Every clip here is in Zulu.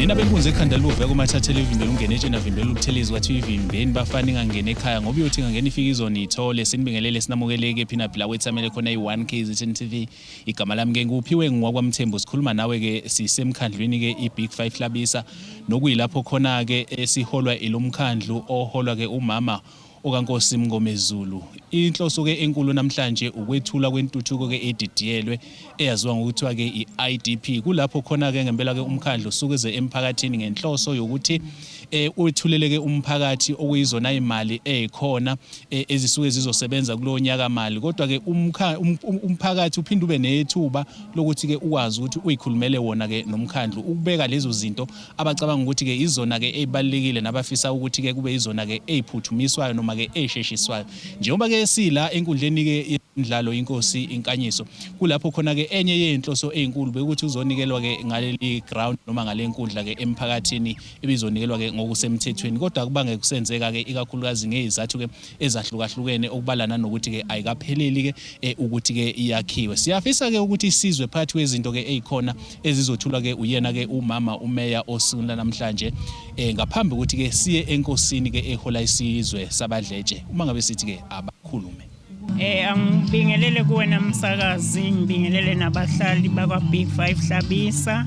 nina benkunzi ekhanda liwuveka uma thathela ivimbela ungene etsheni avimbela ukuthelezi kwathiwa ivimbeni bafana ingangena ekhaya ngoba uyothi ingangena ifike izonithole sinibingelele sinamukeleke phina phila wethamele khona i-1 kzn tv Igama lami ke nguphiwe ngwakwamthembu sikhuluma nawe ke sisemkhandlwini ke iBig 5 Hlabisa nokuyilapho khona ke esiholwa ilomkhandlu oholwa ke umama okaNkosi Mngomezulu. Inhloso ke enkulu namhlanje ukwethula kwentuthuko ke edidiyelwe eyaziwa ngokuthiwa ke i-IDP. Kulapho khona ke ngempela ke umkhandlu usukeze emphakathini ngenhloso yokuthi eh, wethuleleke umphakathi okuyizona imali ezikhona eh, ezisuke zizosebenza kulo nyaka mali kodwa ke um, um, umphakathi uphinde ube nethuba lokuthi ke ukwazi ukuthi uyikhulumele wona ke nomkhandlu ukubeka lezo zinto abacabanga ukuthi ke izona ke ezibalekile nabafisa ukuthi ke kube izona ke eziphuthumiswayo noma ke ezisheshiswayo njengoba ke sila enkundleni ke indlalo inkosi inkanyiso kulapho khona ke enye yezinhloso ezinkulu bekuthi uzonikelwa ke ngaleli ground noma ngalenkundla ke emphakathini ibizonikelwa-ke ngokusemthethweni kodwa kubange kusenzeka-ke ikakhulukazi ngeyizathu-ke ezahlukahlukene okubalana nokuthi-ke ayikapheleli-ke eh, ukuthi-ke iyakhiwe siyafisa-ke ukuthi isizwe phakathi kwezinto-ke eyikhona ezizothulwa-ke uyena-ke umama umeya osukwini lanamhlanje um ngaphambi ukuthi-ke siye enkosini-ke ehola isizwe sabadletshe uma ngabe sithi-ke abakhulume Eh angibingelele kuwena msakazi, ngibingelele nabahlali bakwa Big 5 Hlabisa.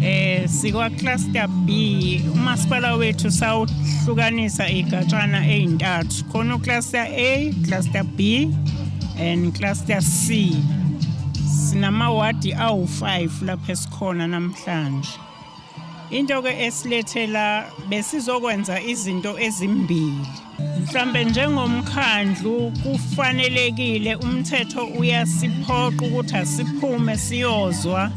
Eh sikwa cluster B umasipala wethu sawuhlukanisa igatshana ezintathu. Khona ucluster A, cluster B and cluster C. Sinama ward awu5 lapha esikhona namhlanje. Into-ke esilethe la besizokwenza izinto ezimbili. Mhlambe njengomkhandlu kufanelekile umthetho uyasiphoqa ukuthi asiphume siyozwa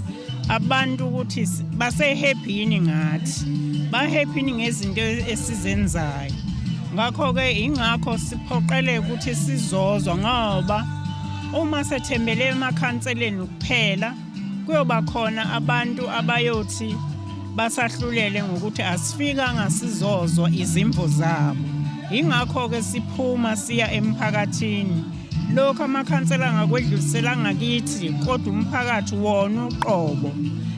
abantu ukuthi base-happy yini ngathi. Ba-happy yini ngezinto esizenzayo. Ngakho-ke ingakho siphoqeleke ukuthi sizozwa ngoba uma sethembele emakhanseleni kuphela Kuyoba khona abantu abayothi basahlulele ngokuthi asifikanga sizozwa izimvo zabo. Yingakho-ke siphuma siya emphakathini. Lokhu amakhansela angakwedluliselanga kithi kodwa umphakathi wona uqobo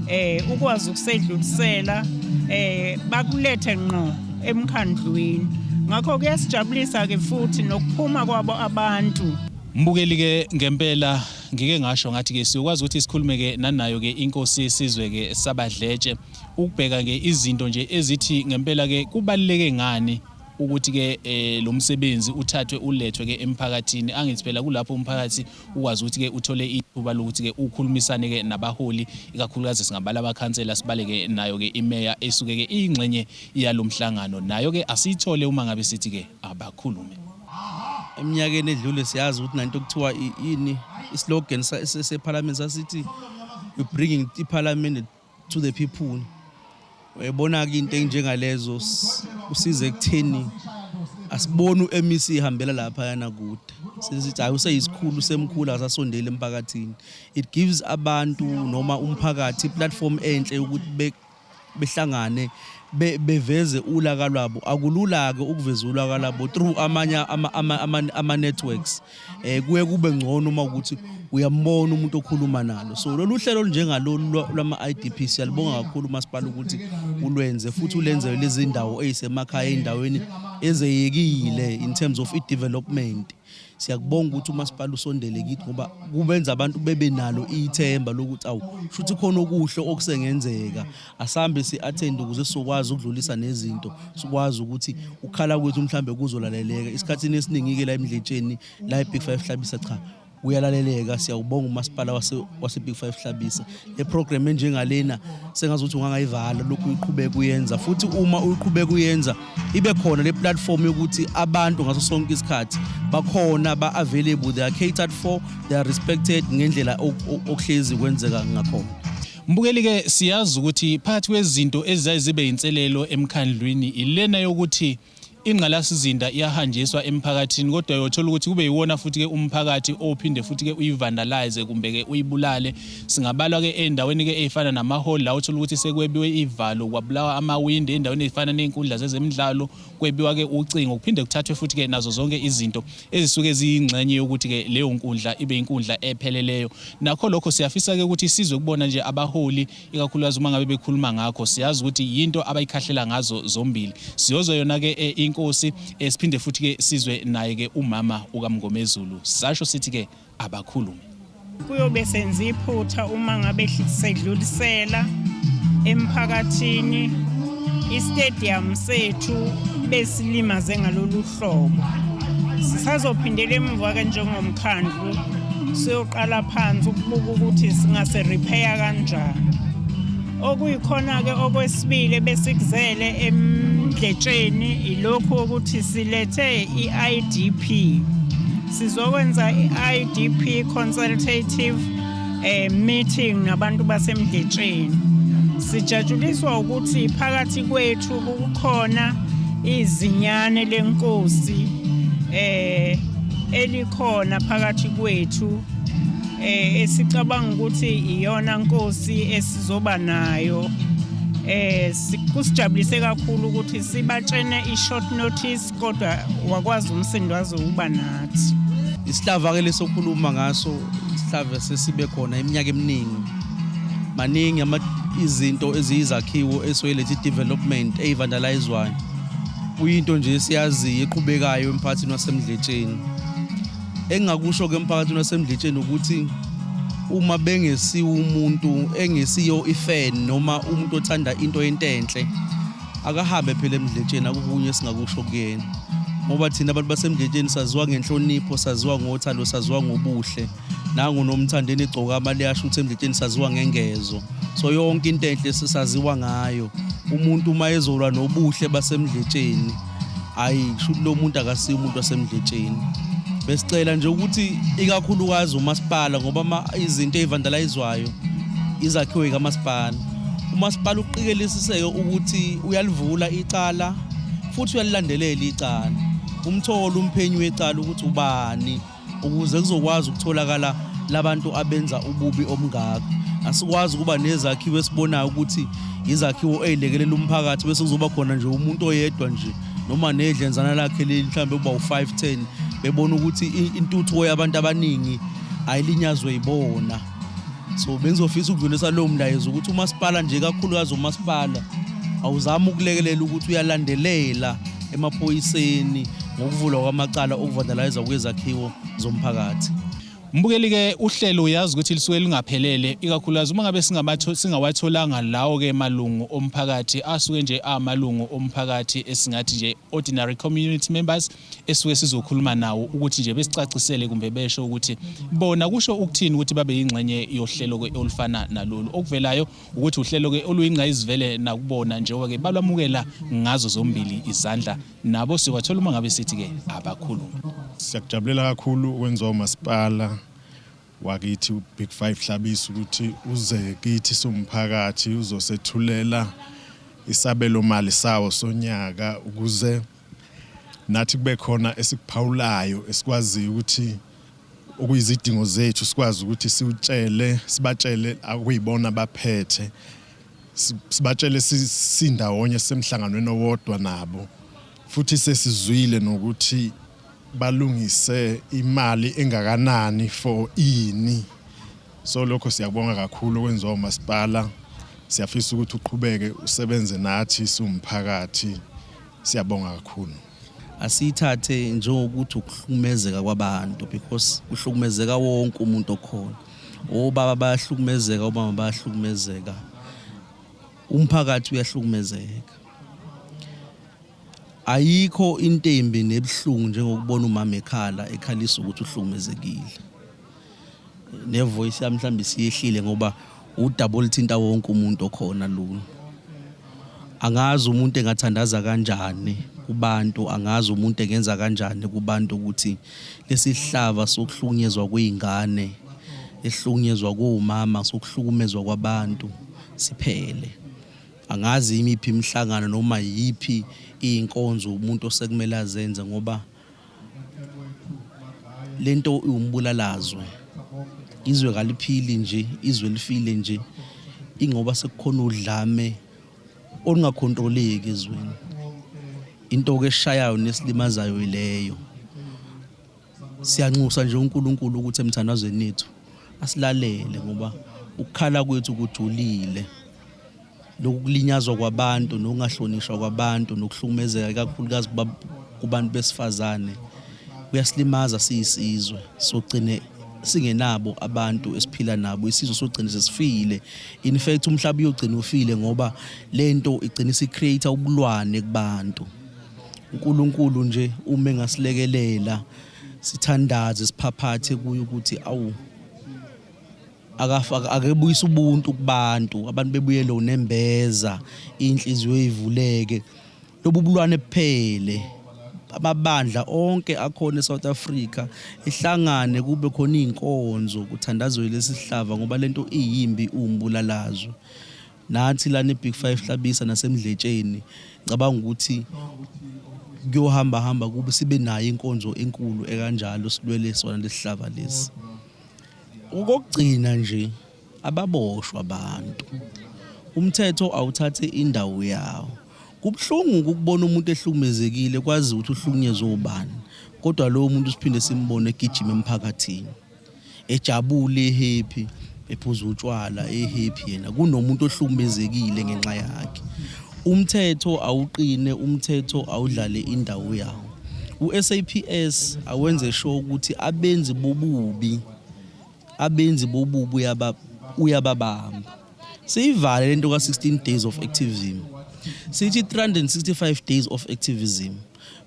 eh ukwazi ukusedlulisela eh bakulethe ngqo emkhandlwini ngakho kuyasijabulisa ke futhi nokuphuma kwabo abantu mbukeli ke ngempela ngike ngasho ngathi ke siyokwazi ukuthi sikhulume ke nanayo ke inkosi yesizwe ke sabadletshe ukubheka ke izinto nje ezithi ngempela ke kubaluleke ngani ukuthi ke eh, lo msebenzi uthathwe ulethwe ke emphakathini angithi phela kulapho umphakathi ukwazi ukuthi ke uthole ithuba lokuthi ke ukhulumisane ke nabaholi ikakhulukazi singabala abakhansela sibaleke nayo ke imeya esuke ke ingxenye yalomhlangano nayo ke asiyithole uma ngabe sithi ke abakhulume eminyakeni edlule siyazi ukuthi nanto kuthiwa yini islogan sephalamende sasithi you bringing iphalamende to the people uyayibona-ke into enjengalezo kusiza ekutheni asiboni u-mec ihambela lapha yana kude sesithi hayi useyisikhulu semkhulu asasondeli emphakathini it gives abantu noma umphakathi iplatform enhle yokuthi behlangane be, beveze ulaka lwabo akulula-ke ukuveza ulaka labo through amanye ama-networks ama, ama um kuye kube ngcono uma ukuthi uyambona umuntu okhuluma nalo so lolu hlelo olunjengalolu lwama-i d p siyalibonga kakhulu umasipala ukuthi ulwenze futhi ulenzele lezi ndawo eyisemakhaya ey'ndaweni ezeyekile in terms of i-development siyakubonga ukuthi umasipala usondele kithi ngoba kubenza abantu bebe nalo ithemba lokuthi awu futhi khona okuhle okusengenzeka asambe si-attend ukuze sizokwazi ukudlulisa nezinto sikwazi ukuthi ukukhala kwethu mhlawumbe kuzolaleleka isikhathini esiningi-ke la emdletsheni la e-big five hlabisa cha kuyalaleleka siyawubonga umasipala wase-big five hlabisa eprogram enjengalena sengazi ukuthi ungangayivala lokhu uyiqhubeka uyenza futhi uma uyiqhubeka uyenza ibe khona le platform yokuthi abantu ngaso sonke isikhathi bakhona ba-available they are catered for they are respected ngendlela okuhlezi kwenzeka ngakhona mbukeli-ke siyazi ukuthi phakathi kwezinto eziyaye zibe yinselelo emkhandlwini ilena yokuthi ingqalasizinda iyahanjiswa emphakathini kodwa uyothola ukuthi kube yiwona futhi-ke umphakathi ophinde futhi-ke uyivandalize kumbe-ke uyibulale singabala-ke ey'ndaweni-ke ey'fana namahholi la othola ukuthi sekwebiwe iy'valo kwabulawa amawindi ey'ndaweni ey'fana ney'nkundla zezemidlalo kwebiwa-ke ucingo kuphinde kuthathwe futhi-ke nazo zonke izinto ezisuke ziyingxenye yokuthi-ke leyo nkundla ibe inkundla epheleleyo nakho lokho siyafisa-ke ukuthi isizwe kubona nje abaholi ikakhulukazi uma ngabe bekhuluma ngakho siyazi ukuthi yinto abayikhahlela ngazo zombili siyozwa yona ke eh, inkosi eh, siphinde futhi ke sizwe naye ke umama ukamngomezulu sasho sithi ke abakhulume kuyobe senza iphutha uma ngabe sedlulisela emphakathini istadium sethu besilimaze ngalolu hlobo sisazophindela emuva ke njengomkhandlu siyoqala phansi ukubuka ukuthi singase repair kanjani okuyikhona ke okwesibili besikuzele emdletsheni ilokhu ukuthi silethe iIDP sizokwenza iIDP consultative eh meeting nabantu basemdletsheni sijatshuliswa ukuthi phakathi kwethu kukhona izinyane lenkosi eh elikhona phakathi kwethu eh esicabanga ukuthi iyona nkosi esizoba nayo eh kusijabulise kakhulu ukuthi sibatshene i short notice kodwa wakwazi umsindo waze uba nathi isihlava ke lesokhuluma ngaso isihlava sesibe khona iminyaka eminingi maningi izinto eziyizakhiwo esoyilethi development eyivandalizwayo kuyinto nje esiyaziyo eqhubekayo emphakathini wasemdletsheni engingakusho ke emphakathini wasemdletsheni ukuthi uma bengesiwo umuntu engesiyo ifan noma umuntu othanda into entenhle akahambe phela emdletsheni akukunye esingakusho kuyena ngoba thina abantu basemdletsheni saziwa ngenhlonipho saziwa ngothando saziwa ngobuhle nangu nomthandeni egcoka amali yasho ukuthi emdletsheni saziwa ngengezo so yonke into enhle sisaziwa ngayo umuntu uma ezolwa nobuhle basemdletsheni ayi kusho ukuthi lo muntu akasiyo umuntu wasemdletsheni besicela nje ukuthi ikakhulukazi umasipala ngoba izinto ey'vandalayizwayo izakhiwe kamasipala umasipala uqikelisiseke ukuthi uyalivula icala futhi uyalilandelela icala umthole umphenyi wecala ukuthi ubani ukuze kuzokwazi ukutholakala labantu abenza ububi omngaka asikwazi ukuba nezakhiwo esibonayo ukuthi izakhiwo ezilekelela umphakathi bese kuzoba khona nje umuntu oyedwa nje noma nedlenzana lakhe leli mhlawumbe kuba u-510 bebona ukuthi intuthuko yabantu abaningi ayilinyazwe yibona so bengizofisa ukudlulisa lowo mlayezo ukuthi umasipala nje kakhulukazi umasipala awuzami ukulekelela ukuthi uyalandelela emaphoyiseni ngokuvulwa kwamacala okuvandalayiza kwezakhiwo zomphakathi Mbukeli ke uhlelo uyazi ukuthi lisuke lingaphelele ikakhulukazi uma ngabe singabatho singawatholanga lawo ke malungu omphakathi asuke nje amalungu omphakathi esingathi nje ordinary community members esuke sizokhuluma nawo ukuthi nje besicacisele kumbe besho ukuthi bona kusho ukuthini ukuthi babe yingxenye yohlelo ke olufana nalolu okuvelayo ukuthi uhlelo ke oluyingqayizivele nakubona njengoba ke balwamukela ngazo zombili izandla nabo sikwathola uma ngabe sithi ke abakhulume siyakujabulela kakhulu ukwenziwa umasipala wakithi uBig 5 Hlabisa ukuthi uze kithi somphakathi uzosethulela isabelo mali sawo sonyaka ukuze nathi kube khona esikuphawulayo esikwaziyo ukuthi okuyizidingo zethu sikwazi ukuthi siwutshele sibatshele akuyibona baphethe sibatshele sindawonye semhlanganweni owodwa nabo futhi sesizwile nokuthi balungise imali engakanani for ini So lokho siyakubonga kakhulu okwenziwa umasipala. Siyafisa ukuthi uqhubeke usebenze nathi siwumphakathi. Siyabonga kakhulu. Asiyithathe njengokuthi ukuhlukumezeka kwabantu because kuhlukumezeka wonke umuntu okhona. Obaba bayahlukumezeka, omama bayahlukumezeka. Umphakathi uyahlukumezeka. Ayikho into embi nebuhlungu njengokubona umama ekhala ekhalisa ukuthi uhlukumezekile. nevoice yami mhlawumbe siyehlile ngoba udaba olithinta wonke umuntu okhona lolu angazi umuntu engathandaza kanjani kubantu angazi umuntu engenza kanjani kubantu ukuthi lesihlava sokuhlukunyezwa kweingane ehlukunyezwa komama sokuhlukumezwa kwabantu siphele angazi imiphi imihlangano noma yiphi inkonzo umuntu osekumele azenze ngoba lento iwumbulalazwe izwe kaliphili nje izwe lifile nje ingoba sekukhona udlame olungakhontroleki ezweni into ke eshayayo nesilimazayo ileyo siyanxusa nje uNkulunkulu ukuthi emthandazweni ethu asilalele ngoba ukukhala kwethu kujulile lokulinyazwa kwabantu nokungahlonishwa kwabantu nokuhlukumezeka ikakhulukazi kubantu besifazane kuyasilimaza siyisizwe sogcine singenabo abantu esiphila nabo isizwe sogcina sesifile in fact umhlaba uyogcina ufile ngoba lento igcina isicreate ubulwane kubantu uNkulunkulu nje uma engasilekelela sithandaze siphaphathe kuye ukuthi awu akebuyisa ubuntu kubantu abantu bebuyele unembeza inhliziyo ivuleke lobu bulwane buphele amabandla onke akhona eSouth Africa ihlangane kube khona izinkonzo kuthandazwe lesihlava ngoba lento iyimbi umbulalazo nathi la ne Big 5 hlabisa nasemdletsheni ngicabanga ukuthi kuyohamba hamba kube sibe nayo inkonzo enkulu ekanjalo silwele sona lesihlava lesi Okokugcina nje ababoshwa abantu umthetho awuthathe indawo yawo kubuhlungu ukubona umuntu ehlukumezekile kwazi ukuthi uhlukunyezwe ubani kodwa lowo muntu siphinde simbone egijima emphakathini ejabule ehappy ephuza utshwala ehappy yena kunomuntu ohlukumezekile ngenxa yakhe umthetho awuqine umthetho awudlale indawo yawo USAPS awenze sho ukuthi abenzi bobubi abenzi bobubi uyababamba siyivale lento ka-16 days of activism sithi 365 days of activism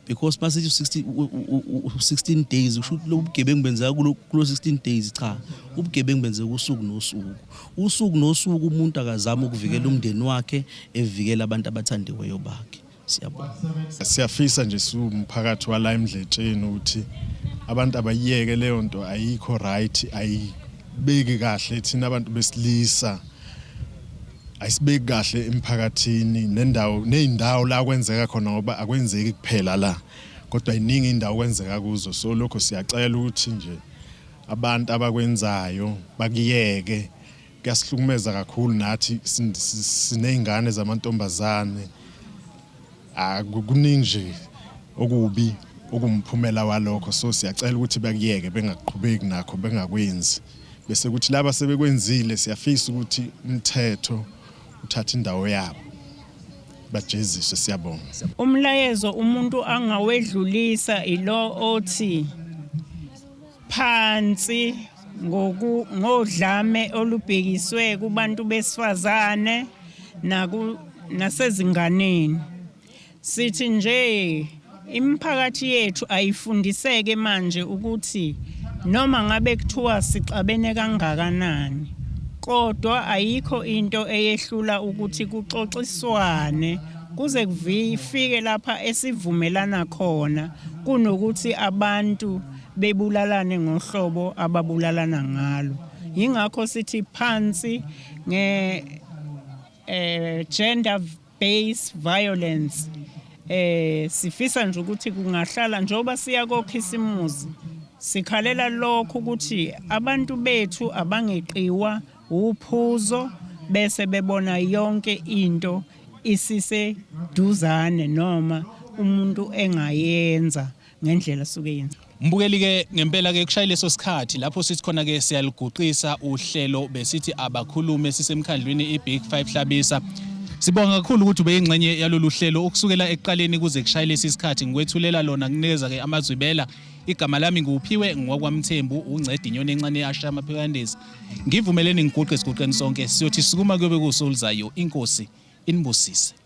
because masithi 16 16 days usho ukuthi lobugebengu benzeka kulo 16 days cha ubugebengu benzeka usuku nosuku usuku nosuku umuntu akazama ukuvikela umndeni wakhe evikela abantu abathandiweyo bakhe Siyabonga. Siyafisa nje siwumphakathi wala emdletsheni ukuthi abantu abayiyeke leyo nto ayikho right ayibeki kahle thina abantu besilisa ayisibeki kahle emphakathini nendawo nezindawo la kwenzeka khona ngoba akwenzeki kuphela la kodwa iningi indawo kwenzeka kuzo so lokho siyacela ukuthi nje abantu abakwenzayo bakuyeke Kuyasihlukumeza kakhulu nathi siney'ngane zamantombazane kuningi nje okubi okumphumela walokho so siyacela ukuthi bakuyeke bengaqhubeki nakho bengakwenzi bese kuthi laba sebekwenzile siyafisa ukuthi umthetho uthathe indawo yabo bajeziswe siyabonga umlayezo umuntu angawedlulisa ilo othi phansi ngodlame olubhekiswe kubantu besifazane nasezinganeni sithi nje imiphakathi yethu ayifundiseke manje ukuthi noma ngabe kuthiwa sixabene kangakanani kodwa ayikho into eyehlula ukuthi kuxoxiswane kuze kufike lapha esivumelana khona kunokuthi abantu bebulalane ngohlobo ababulalana ngalo yingakho sithi phansi nge eh gender based violence eh sifisa nje ukuthi kungahlala njengoba siya kokhisimuzi sikhalela lokho ukuthi abantu bethu abangeqiwa uphuzo bese bebona yonke into isise duzane noma umuntu engayenza ngendlela suke yenza Mbukeli ke ngempela ke kushaya leso sikhathi lapho sithi khona ke siyaliguqisa uhlelo besithi abakhulume sisemkhandlwini iBig 5 Hlabisa Sibonga kakhulu ukuthi ubeyingxenye yalolu hlelo ukusukela ekuqaleni kuze kushaye lesi sikhathi ngikwethulela lona kunikeza ke amazwibela igama lami nguphiwe ngokwaMthembu uncedi inyoni encane yasha amaphikandezi ngivumeleni ngiguqe siguqeni sonke siyothi sukuma kuyobe kusulizayo inkosi inibusise